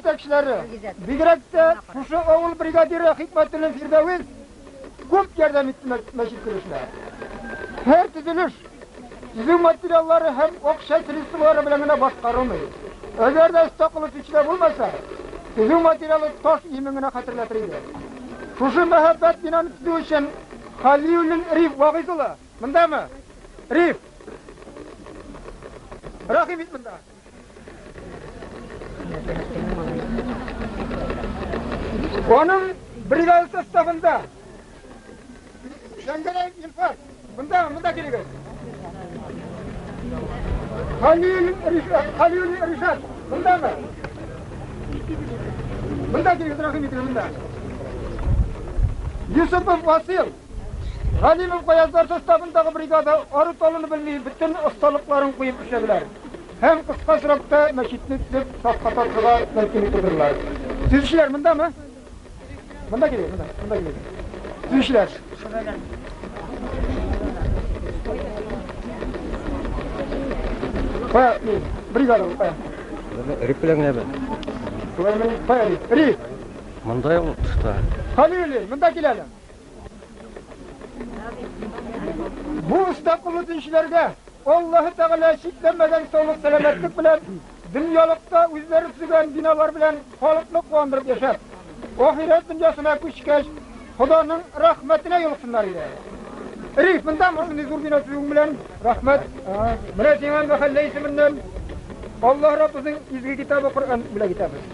җитәкчеләре, бигрәк тә шушы авыл бригадиры Хикмәтуллин Фирдәвес күп ярдәм итте мәчет төзелешенә. Һәр төзелеш төзү материаллары һәм акча средстволары белән генә башкарылмый. Әгәр дә оста кылыч эчтә булмаса, төзү материалы таш иемен генә хәтерләтер иде. Шушы мәһабәт бинаны төзү өчен Халиуллин Риф вагыйз улы, мондамы? Риф! Рәхим ит монда! Аның бригада составында Шәңгәрәй Илфар, мында, мында килегез. Халил Ришат, Халил Ришат, мындамы? Мында килегез, рәхим итегез, мында. Юсупов Васил, Галимов Гаязлар составындагы бригада ару-талуны белми бөтен осталыкларын куеп эшләделәр һәм кыска срокта мәчетне төзеп сафка тартырга мөмкинлек тудырдылар. Төзүчеләр мондамы? Монда килегез, монда, монда килегез. Төзүчеләр. Кая, ни, бригада бу, кая? Рик белән генә бе. Кая, ни, кая, ни, Рик? Монда юк тышта. Халил, монда киләле. Бу оста кулы динчеләргә Аллаһы Тәгалә чикләмәгән саулык сәламәтлек белән дөньялыкта үзләре төзегән биналар белән халыкны куандырып яшәп, ахирәт дөньясына күчкәч, Ходаның рәхмәтенә юлыксыннар иде. Риф, монда мондый зур бина төзүең белән рәхмәт. Менә сиңа мәхәллә исеменнән Аллаһ Раббыбызның изге китабы Коръән бүләк итәбез.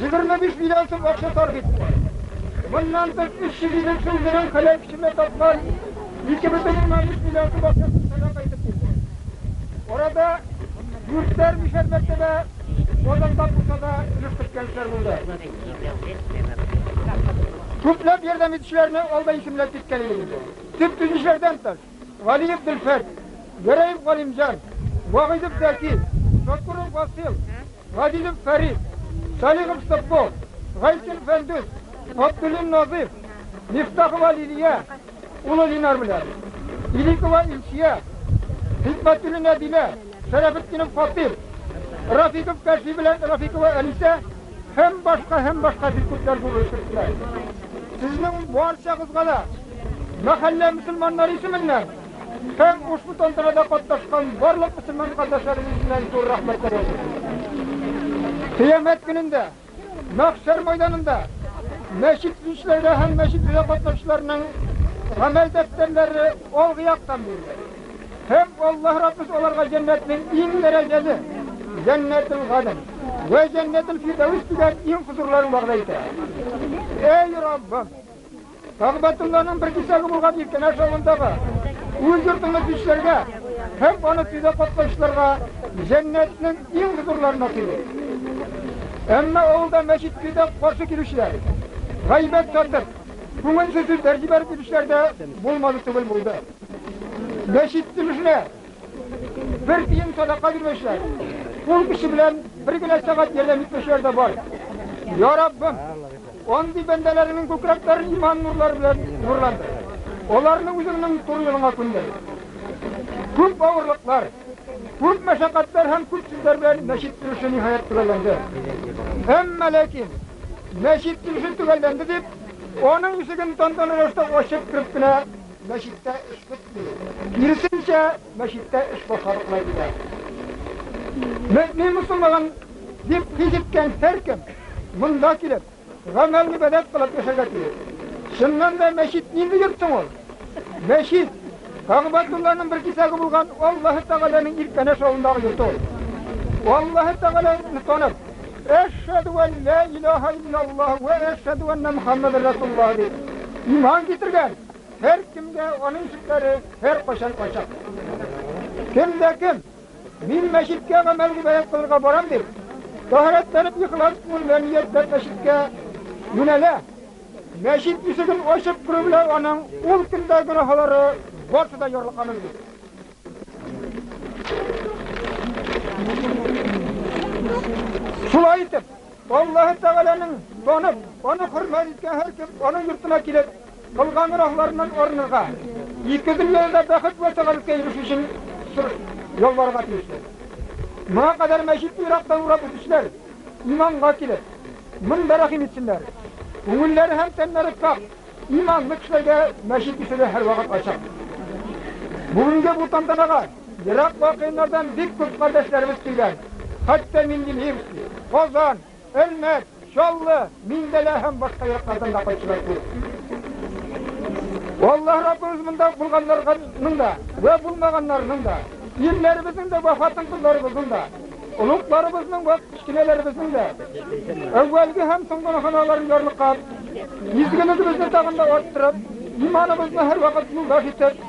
25 миллион сум акча сарыф итте. Моннан тыш 300 ел эчен гөрән хәләл пешермә тапкан 2,3 миллион сум акчасын сәдака итеп бирде. Арада дүртәр мишәр мәртәбә Казанда булса да өлеш керткән кешеләр булды. Күпләп ярдәм итүчеләрне алда исемләп киткән идек инде. Төп төзүчеләрдән тыш, Галиев Дилфәт, Гәрәев Галимҗан, Вагыйдов Зәки, Сокуров Васил, Газизов Фәрит, Салихов Соппо, Гайсин Фәндүс, Габдуллин Назыйф, Мифтахова Лилия, улы Линар белән, Иликова Илсия, Хикмәтуллин Әдилә, Шәрәфетдинов Фатих, Рафиков Кәшфи белән Рафикова Әнисә һәм башка һәм башка бик күпләр булып киттеләр. Сезнең барчагызга да Мәхәллә мөселманнары исеменнән һәм ушбу тантанада катнашкан барлык мөселман кардәшләребез белән зур рәхмәтләр яуладым. Кыямәт көнендә мәхшәр майданында мәчет төзүчеләргә һәм мәчет төзүдә катнашучыларның гамәл дәфтәрләре алгы яктан бирелер. Һәм Аллаһ Раббыбыз аларга җәннәтнең иң дәрәҗәле, Җәннәтел-Гаден вә Җәннәтел-Фирдәвес дигән иң хозурларын вәгъдә итә. Әй Раббым! Тагъбәтулланың бер кисәге булган Иркенәш авылындагы үз йортыңны бичләргә һәм аны төзү катнашучыларга җәннәтнең иң зурларына тели. Әмма авылда мәчет төзүдә каршы килүчеләр, гайбәт сатып, күңелсез сүзләр җибәреп йөрүчеләр дә булмады түгел булды. Мәчет төзелешенә Бер тиен садака бирмәүчеләр, кул көче белән бер генә сәгать ярдәм итмәүчеләр дә бар. Я Раббым, андый бәндәләреңнең күкрәкләрен иман нурлары белән нурландыр. Аларны үзеңнең туры юлыңа күндер. Күп авырлыклар, күп мәшәкатьләр һәм күп сүзләр белән мәчет төзелеше ниһаять төгәлләнде. Әмма ләкин мәчет төзелеше төгәлләнде дип, аның ишеген тантаналы рәвештә ачып кереп кенә Мәчеттә эш бетми. Киресенчә, мәчеттә эш башкарыклай килә. Мөмин мусулман дип хис иткән һәркем монда килеп, гамәл гыйбадәт кылып яшәргә тиеш. Чыннан да мәчет нинди йорт соң ул? Мәчет Кагъбатулланың бер кисәге булган Аллаһы Тәгаләнең Иркәнәш авылындагы йорты ул. Аллаһы Тәгаләне танып, Әшһәду ан ла илаһа иллаллаһ вә әшһәду анна Мухаммадан расулуллаһ дип иман китергән Һәркемгә аның сүзләре һәркайчан ачык. Кем дә кем, мин мәчеткә гамәл риваять кылырга барам дип, тәһарәтләнеп ихлас күңел белән ниятләп мәчеткә юнәлә. Мәчет ишеген ачып керү белән аның ул көндә гөнаһлары барсы да ярлыкка менде. Шулай итеп, Аллаһы Тәгаләнең танып, аны хөрмәт иткән һәркем аның йортына килеп, кылган гөнаһларыннан арынырга, ике дөньяда да бәхет вә сәгадәткә ирешү өчен ялварырга тиештер. Моңа кадәр мәчетне ерактан урап үтүчеләр иманга килеп, монда рәхим итсеннәр. Күңелләре һәм тәннәре саф, иманлы кешеләргә мәчет ишеге һәрвакыт ачык. Бүгенге бу тантанага Ерак вакыйннардан бик күп кардәшләребез килгән. Хәтта Мингелевский, Казан, Әлмәт, Чаллы, Мингәлә һәм башка яклардан да кайтучылар күп. Аллаһ Раббыбыз монда булганнарның да вә булмаганнарның да, ирләребезнең дә вә хатын-кызларыбызның да, олугларыбызның вә кечкенәләребезнең дә әүвәлге һәм соңгы гөнаһларын ярлыкап, изгелегебезне тагын да арттырып, иманыбызны һәрвакыт юлдаш итеп,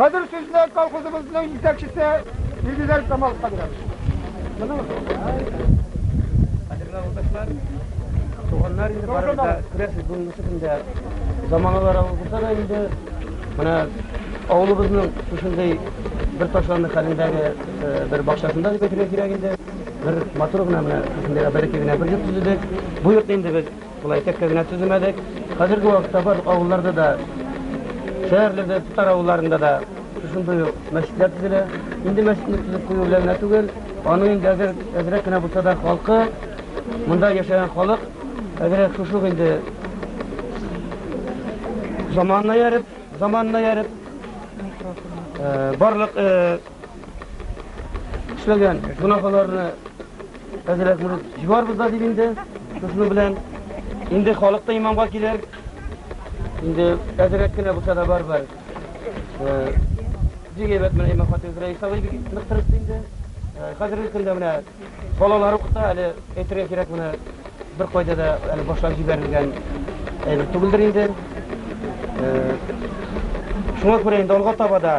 Хәзер сүзне колхозыбызның җитәкчесе Илгизәр Камаловка бирәм. Кадерле авылдашлар, туганнар инде барыбыз да күрәсез бүгенге көндә заманалар авылыбызда да инде менә авылыбызның шушындый бер ташланды хәлендәге бер бакчасында дип әйтергә кирәк инде бер матур гына менә шушындый бәләкәй генә бер йорт төзедек бу йортны инде без Болай текә генә төземәдек. Хәзерге вакытта барлык авылларда да, шәһәрләрдә, татар авылларында да шушындый ук мәчетләр төзелә. Инде мәчетне төзеп кую белән генә түгел, аның инде әзер, әзрәк кенә булса да халкы, монда яшәгән халык, әзрәк шушы ук инде заманына ярып, заманына ярып, э, барлык э, эшләгән гөнаһларны Әзрәк мөрид җибарбыз да дип инде, шуны белән. Инде халык та имамга килер. Инде әзрәк кенә булса да барбар. Бик әйбәт менә имам хатип Рәис абый бик нык тырышты инде. Хәзерге көндә менә балалар укыта, әле әйтергә кирәк менә бер кайда да әле башлап җибәрелгән әйбер түгелдер инде. Шуңа күрә инде алга таба да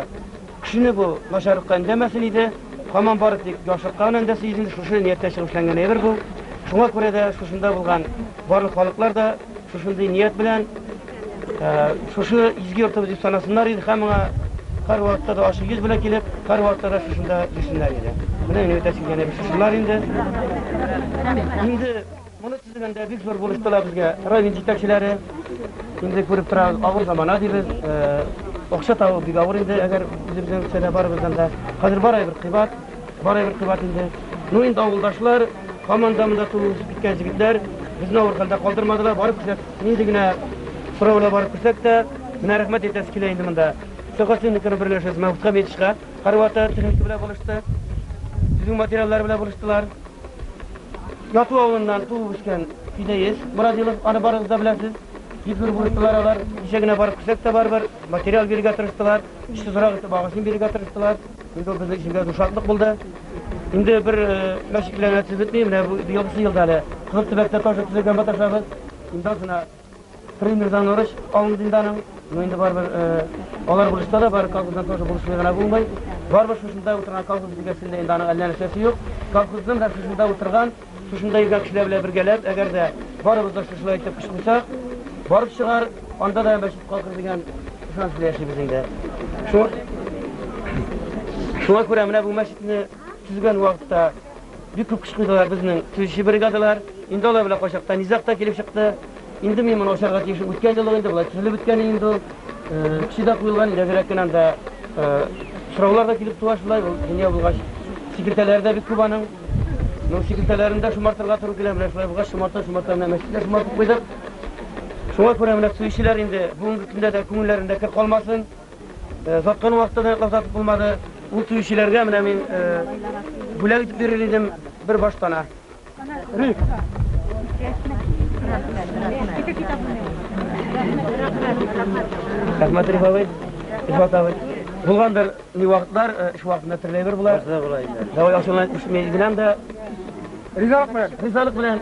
Кешене бу начарлыкка өндәмәсен иде. Һаман бары тик яхшылыкка гына өндәсен иде. Шушы нияттә чыгып эшләнгән әйбер бу. Шуңа күрә дә шушында булган барлык халыклар да шушындый ният белән шушы изге йортыбыз дип санасыннар иде һәм моңа һәрвакытта да ачык йөз белән килеп, һәрвакытта да шушында йөрсеннәр иде. Менә минем әйтәсе килгән әйбер шушылар инде. Инде Моны төзегәндә бик зур бурыч тула безгә. Район җитәкчеләре, инде күреп торабыз, авыр замана дибез. Акча табу бик авыр инде, әгәр үзебезнең кесәдә барыбыздан да. Хәзер бар әйбер кыйбат, бар әйбер кыйбат инде. Ну, инде авылдашлар, һаман да монда туып үсеп киткән җегетләр безне авыр хәлдә калдырмадылар. Барып күрсәк, нинди генә сораулар барып күрсәк тә, менә рәхмәт әйтәсе килә инде монда. Сәхәсенекара берләшәбез, Мәүт Хәмитовичка. Карваты, түшәкче белән булышты. Төзү материаллары белән булыштылар. Яту авылыннан туып үскән Фидәес Мурадилов, аны барыгыз да беләсез. Бик зур булыштылар алар. Кичә генә барып күрсәк тә барыбер, материал бирергә тырыштылар. Эшсез урак итеп агачын бирергә тырыштылар. Инде ул безнең өчен дә зур шатлык булды. Инде бер э, мәчетләрне төзетми, менә бу елгысы елда әле Кызыл төбәктә тоже төзегән маташабыз. Инде озына Примердан урыч алынды инде аның. Ну инде барыбер алар булышта да бар, колхоздан тоже булышмый гына булмый. Барыбер шушында утырган колхоз бизәсендә инде аның әллә нәрсәсе юк. Колхоздан һәм шушында утырган, шушында йөргән кешеләр белән бергәләп, әгәр дә барыбыз да шушылай итеп кычкырсак, барып чыгар, анда да мәчет калкыр дигән ышаныч белән яшибез инде. Шуңа күрә менә бу мәчетне төзегән вакытта Бик күп көч куйдылар безнең төзүче бригадалар. Инде алар белән кайчакта низаг та килеп чыкты. Инде мин моны ачарга тиеш. Үткән елы инде болай төзелеп беткән инде ул. Э, Кеше дә куелган, рәзерәк кенә анда э, сораулар да килеп туа шулай. Ул дөнья булгач, секретарьләре дә бик күп аның. Ну, секретарьләрен дә шомартырга туры килә. Менә шулай булгач, шомарта, шомарта, менә мәчеткә шомартып куйдык. Шуңа күрә менә төзүчеләр инде бүгенге көндә дә күңелләрендә кер калмасын. Саткан вакытта да яклап сатып булмады. Ул сөючеләргә менә мин бүләк итеп бирер идем бер баштана. Рәхмәт, Риф абый. Рифат абый. Булгандыр ни вакытлар, эш вакытында төрле бер була. Давай ашына исмәй генәм дә. Ризалык белән. Ризалык белән.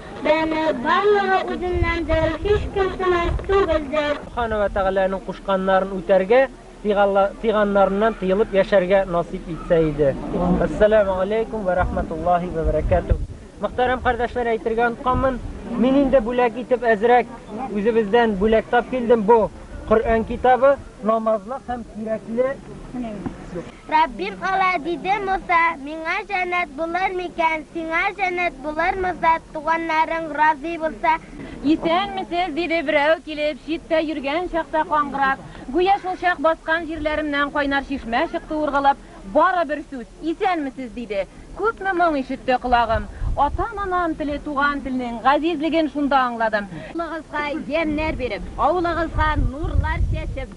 Бәне барлыгы үзеннәндер, һичкем сынай түгелдер. Субхана вә Тәгаләнең кушканнарын үтәргә, тыйганнарыннан тыелып яшәргә насыйп итсә иде. Әссәләмү галәйкүм вә рәхмәтуллаһи вә бәрәкәтүһ. Мөхтәрәм кардәшләр, әйтергә онытканмын, мин инде бүләк итеп әзрәк үзебездән бүләк тап килдем, бу Коръән китабы, намазлык һәм кирәкле Раббим ала, диде Муса, миңа җәннәт булыр микән, сиңа җәннәт булыр Муса, туганнарың разый булса. Исәнмесез, диде берәү килеп, читтә йөргән чакта каңгырап, гүя шул чак баскан җирләремнән кайнар чишмә чыкты ургылып, бары бер сүз, Исәнмесез, диде. Күпме моң ишетте колагым. Атам-анам теле, туган телнең газизлеген шунда аңладым. Авылыгызга ямьнәр биреп. Авылыгызга нурлар чәчеп.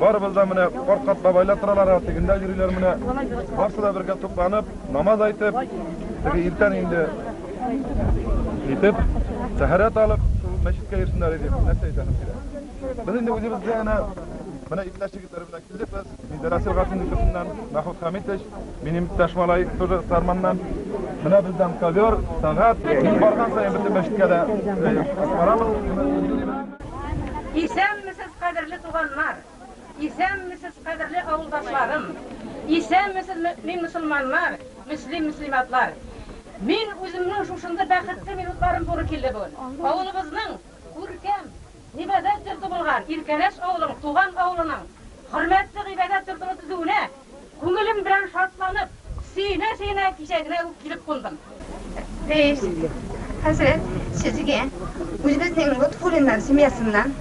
Барыбыз да менә карт-карт бабайлар торалар, ә тегендә йөриләр менә. Барсы да бергә тупланып, намаз әйтеп, теге иртән инде итеп, тәһарәт алып, шул мәчеткә йөрсеннәр иде. Нәрсә әйтәсең сиңа? Без инде үзебез дә әнә Менә иптәш егетләр белән килдек без. Миндәр Асил Гатинниковнан, Мәхмүт Хәмитович, минем иптәш малай тоже Сарманнан. Менә бездән ковер, сәгать. Мин барган саен бөтен мәчеткә дә барабыз. Исәнмесез, кадерле туганнар! Исәнмесез, кадерле авылдашларым! Исәнмесез, мөэмин мөселманнар, мөслим мөслиматлар! Мин үземнең шушындый бәхетле минутларым туры килде бүген. Авылыбызның күркәм гыйбадәт йорты булган Иркәләш авылының, туган авылының хөрмәтле гыйбадәт йортыны төзүенә Күңелем белән шатланып, сөенә-сөенә кичәгенә үк килеп кундым. Рәис хәзрәт, сезгә, үзебезнең Гатфуллиннар семьясыннан,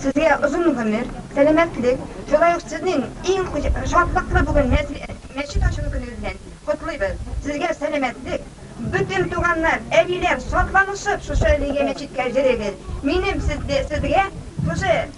сезгә озын гомер, сәламәтлек, шулай ук сезнең иң шатлыклы бүген мәчет ачылу көнегез белән котлыйбыз. Сезгә сәламәтлек, бөтен туганнар, әбиләр, шатланышып шушы әлеге мәчеткә йөрегез. Минем сезгә шушы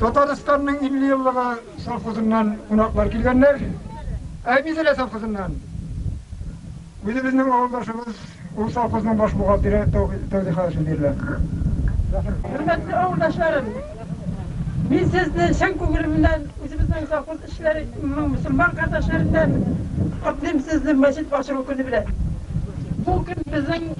Татарстанның 50 еллыгы совхозыннан кунаклар килгәннәр. Ә Мизелә совхозыннан үзебезнең авылдашыбыз, ул совхозның баш бухгалтеры Тәүфик Хәшим бирелә. Хөрмәтле авылдашларым, мин сезне чын күңелемнән үзебезнең совхоз эшләре мөселман кардәшләреннән котлыйм сезне мәчет ачылу көне белән. Бу көн безнең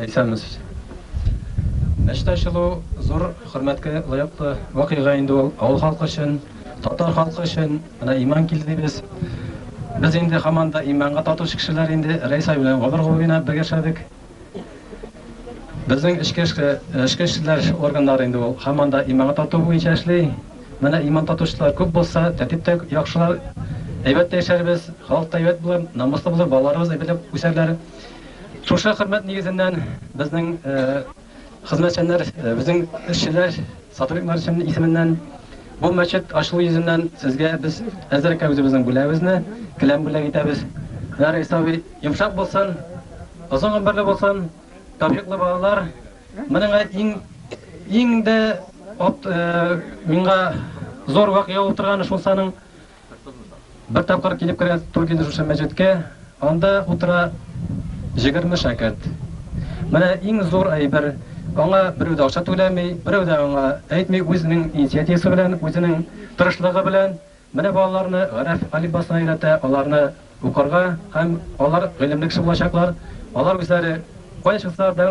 Әйтсәгез. Мәчет ачылу зур хөрмәткә лаеклы вакыйга инде ул. Авыл халкы өчен, татар халкы өчен. Менә иман килде дибез. Без инде һаман да иманга татучы кешеләр инде. Рәис абый белән гомер-гомер генә бергә эшләдек. Безнең эчке эшләр органнары инде ул һаман да иманга тату буенча эшли. Менә иман татучылар күп булса, тәртип тә яхшылар. Әйбәт тә яшәрбез, халык та әйбәт булыр, намуслы булыр, балаларыбыз әйбәтләп үсәрләр. Шушы хөрмәт нигезеннән безнең хезмәтчәннәр, безнең эшчеләр, Садыйк Маршин исеменнән бу мәчет ачылу йөзеннән сезгә без әзрәккә үзебезнең бүләгебезне, келәм бүләк итәбез. Ярый, Исаак абый, йомшак булсын, озын гомерле булсын, тәүфиклы балалар. Моның иң, иң дә от, миңа зур вакыйга булып торганы шул саның Бер тапкыр килеп керә Тургиз шушы мәчеткә, анда утыра җегерме шәкерт. Менә иң зур әйбер, аңа берәү дә акча түләми, берәү дә аңа әйтми, үзенең инициативасы белән, үзенең тырышлыгы белән менә балаларны гарәф алифбасына өйрәтә, аларны Укырга һәм алар гыйлемле кеше булачаклар, алар үзләре кая чыксалар да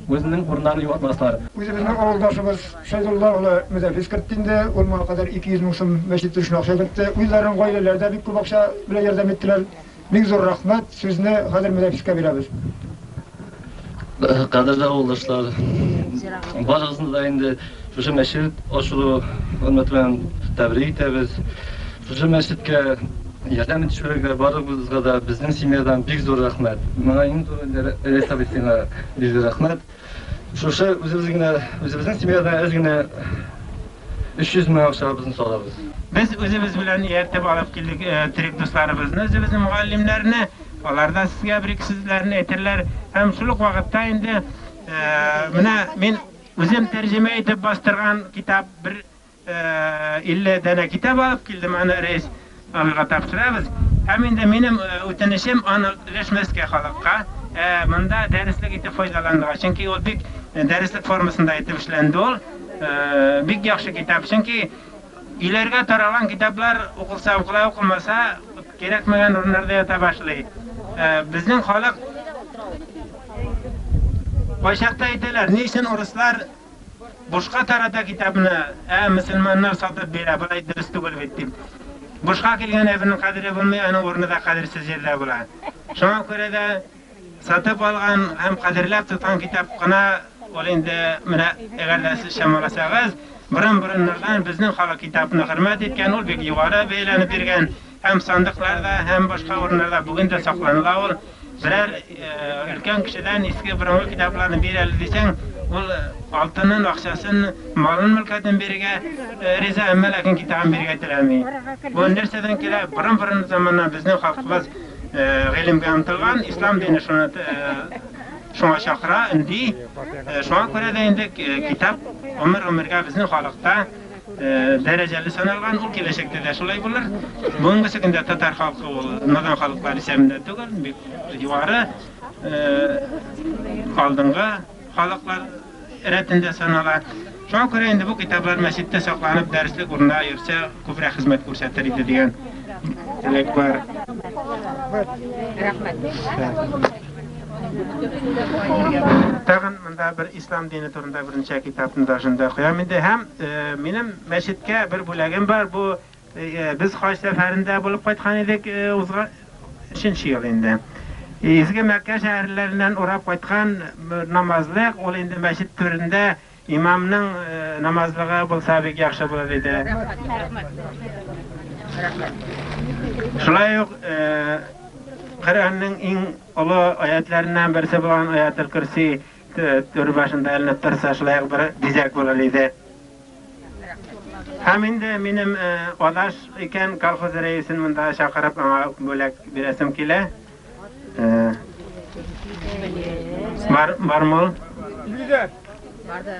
үзенең урыннарын югалтмаслар. Үзебезнең авылдашыбыз Шәйдулла улы Мөдәфис кертте инде, ул моңа кадәр 200 мең сум мәчет төзешенә акча кертте, үзләренең гаиләләре дә бик күп акча белән ярдәм иттеләр. Бик зур рәхмәт, сүзне хәзер Мөдәфискә бирәбез. Кадерле авылдашлар, барыгызны да инде шушы мәчет ачылу урыны белән тәбрик итәбез. Шушы мәчеткә ярдәм итүчеләргә барыгызга да безнең семьядан бик зур рәхмәт. Моңа иң турында Рәис абый сиңа бик зур рәхмәт. Шушы үзебез генә, үзебезнең семьядан әз генә 300 мең акчабызны салабыз. Без үзебез белән ияртеп алып килдек терек дусларыбызны, үзебезнең мөгаллимнәрне. Аларда сезгә бер ике сүзләрне әйтерләр һәм шул ук вакытта инде менә мин үзем тәрҗемә итеп бастырган китап бер 50 дәнә китап алып килдем, аны рәис абыйга тапшырабыз. Һәм инде минем үтенечем аны өләшмәскә халыкка, монда дәреслек итеп файдаланырга. Чөнки ул бик дәреслек формасында итеп эшләнде ул. Бик яхшы китап. Чөнки Өйләргә таралган китаплар укылса укыла, укылмаса, кирәкмәгән урыннарда ята башлый. Безнең халык кайчакта әйтәләр, ни өчен урыслар бушка тарата китапны, ә мөселманнар сатып бирә, болай дөрес түгел бит дип. Бушка килгән әйбернең кадере булмый, аның урыны да кадерсез җирдә була. Шуңа күрә дә Сатып алган һәм кадерләп тоткан китап кына ул инде, менә әгәр дә сез чамаласагыз, борын-борыннардан безнең халык китапны хөрмәт иткән, ул бик югары бәяләнеп биргән һәм сандыкларда һәм башка урыннарда бүген дә сакланыла ул. Берәр өлкән кешедән иске борынгы китапларны бир әле дисәң, ул алтынын, акчасын, малын-мөлкәтен бирергә риза, әмма ләкин китабын бирергә теләми. Бу нәрсәдән килә? Борын-борын заманнан безнең халкыбыз гыйлемгә омтылган, ислам дине шуны шуңа чакыра, өнди. Шуңа күрә дә инде китап гомер-гомергә безнең халыкта дәрәҗәле саналган, ул киләчәктә дә шулай булыр. Бүгенге көндә татар халкы ул надан халыклар исәбендә түгел, бик югары алдынгы халыклар рәтендә санала. Шуңа күрә инде бу китаплар мәчеттә сакланып, дәреслек урыннары йөрсә, күбрәк хезмәт күрсәтер иде дигән теләк бар. Тагын монда бер ислам дине турында берничә китапны да шунда куям инде. Һәм минем мәчеткә бер бүләгем бар. Бу Без хаҗ сәфәрендә булып кайткан идек, узган өченче ел инде. Изге Мәккә шәһәрләреннән урап кайткан намазлык, ул инде мәчет түрендә имамның намазлыгы булса бик яхшы булыр иде. Шулай ук Коръәннең иң олы аятләреннән берсе булган Аятел Көрси Түр башында эленеп торса, шулай бер бизәк булыр иде. Һәм инде минем адаш икән колхоз рәисен монда чакырып, аңа бүләк бирәсем килә. Бар, бармы? Бирдә. Барды.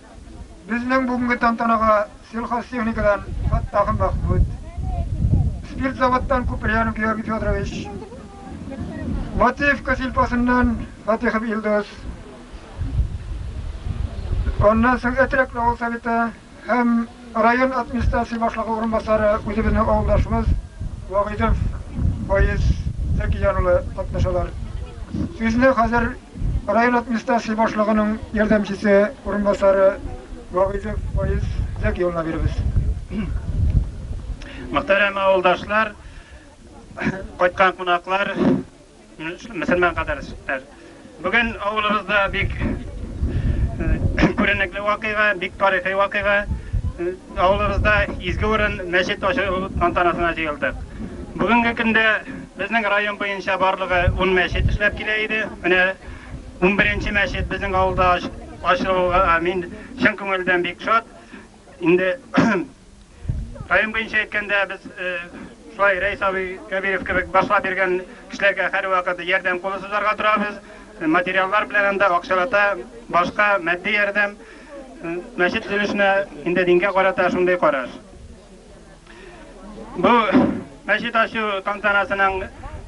Безнең бүгенге тантанага сельхозтехникадан Фаттахов Мәхмүт, спиртзаводтан Куприян Георгий Федорович, Матвеевка сельпосыннан Фатихов Илдус, аннан соң Әтрәкле авыл Советы һәм Район администрация башлыгы урынбасары үзебезнең авылдашыбыз Вагыйдов Фаиз Зәкияр улы катнашалар. Сүзне хәзер район администрация башлыгының ярдәмчесе урынбасары Вагыйдов Фаиз Зәки улына бирәбез. Мөхтәрәм авылдашлар, кайткан кунаклар, Мөселман кадәршләр! Бүген авылыбызда бик күренекле вакыйга, бик тарихи вакыйга. Авылыбызда изге урын мәчет ачу тантанасына җыелдык. Бүгенге көндә безнең район буенча барлыгы 10 мәчет эшләп килә иде. Менә 11 нче мәчет безнең авылда ачылуга мин чын күңелдән бик шат. Инде район буенча әйткәндә, без шулай Рәис абый Кәбиров кебек башлап йөргән кешеләргә һәрвакыт ярдәм кулы сузарга торабыз. Материаллар белән анда акчалата башка матди ярдәм мәчет төзелешенә инде дингә карата шундый караш. Бу мәчет ачу тантанасының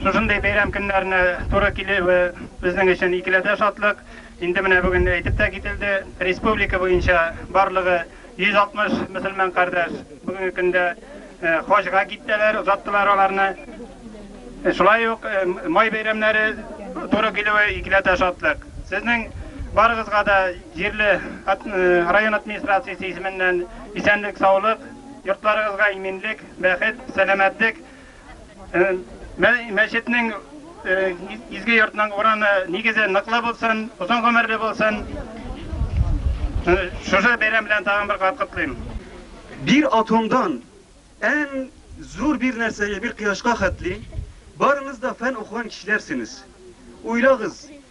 шушындый бәйрәм көннәренә туры килүе безнең өчен икеләтә шатлык. Инде менә бүген әйтеп тә кителде, республика буенча барлыгы 160 мөселман кардәш бүгенге көндә хаҗга киттеләр, озаттылар аларны. Шулай ук май бәйрәмнәре туры килүе икеләтә шатлык. Сезнең барыгызга да җирле район администрациясе исеменнән исәнлек-саулык, Йортларыгызга иминлек, бәхет, сәламәтлек. Мәчетнең, изге йортның урамы, нигезе ныклы булсын, озын гомерле булсын. Шушы бәйрәм белән тагын бер кат котлыйм. Бир атомдан әң зур бир нәрсәгә, бир кояшка хәтле, барыгыз да фән укыган кешеләрсенез. Уйлагыз,